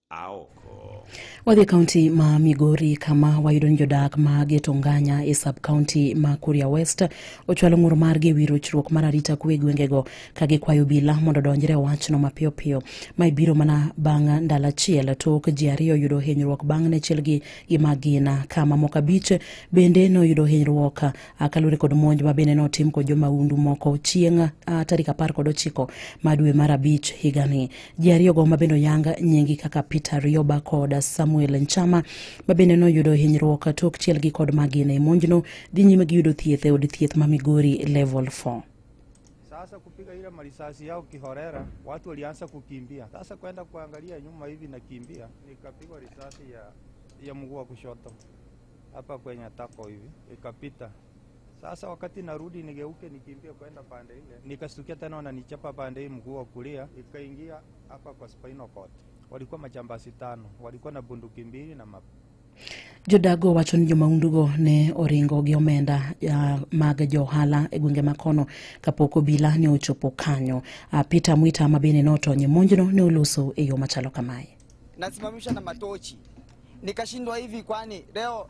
aoko. Wadhi e kaunti ma Migori kama wayudo ni jodak ma Geto Nganya e sub kaunti ma Kuria West ochwalo ng'ur margi e wi rochruok mar arita kwe e gwengego ka gikwayo obila mondo odonjre e wachno mapiyo piyo. Ma ibiro mana bang' ndalo achiel tok ji ariyo yudo hinyruok bang' ne chielgi gi magina ka mamoko abich bende noyudo hinyruok ah, kaluwore kod monj ma bende notim kod jomahundu moko chieng' ah, tarik apar kod ochiko ma dwe mar abich higani. Ji ariyogo ma bende oyang nyingi kaka Peter Rioba kod Samuel Nchama ma bende noyudo hinyruok tok chielgi kod magina e monjno dhi nyime gi yudo thieth e od thieth ma Migori Level 4. Sasa kupiga ile marisasi yao kihorera, watu walianza kukimbia. Sasa kwenda kuangalia nyuma hivi nakimbia, nikapigwa risasi ya, ya mguu wa kushoto hapa kwenye tako hivi ikapita. Sasa wakati narudi nigeuke nikimbie kwenda pande ile, nikastukia tena wananichapa pande hii mguu wa kulia, ikaingia hapa kwa spinal cord. Walikuwa majambasi tano, walikuwa na bunduki mbili na map Jodago wacho ni jomaundugo ne oringo gi omenda uh, mag johala e gwenge makono kapok obila ne ochopo kanyo. Uh, Peter Mwita ma bende notony e monjno ne oloso e yo machalo kamae. nasimamisha na matochi nikashindwa hivi kwani leo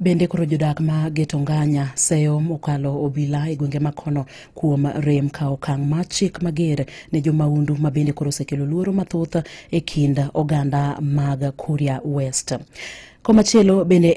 Bende koro jodak ma Geto Nganya seyo mokalo obila e gwenge makono kuom rem ka okang' ma chik mager ne jomaundu ma bende koro osekelo luoro mathoth e kind oganda mag Kuria West. Komachielo bende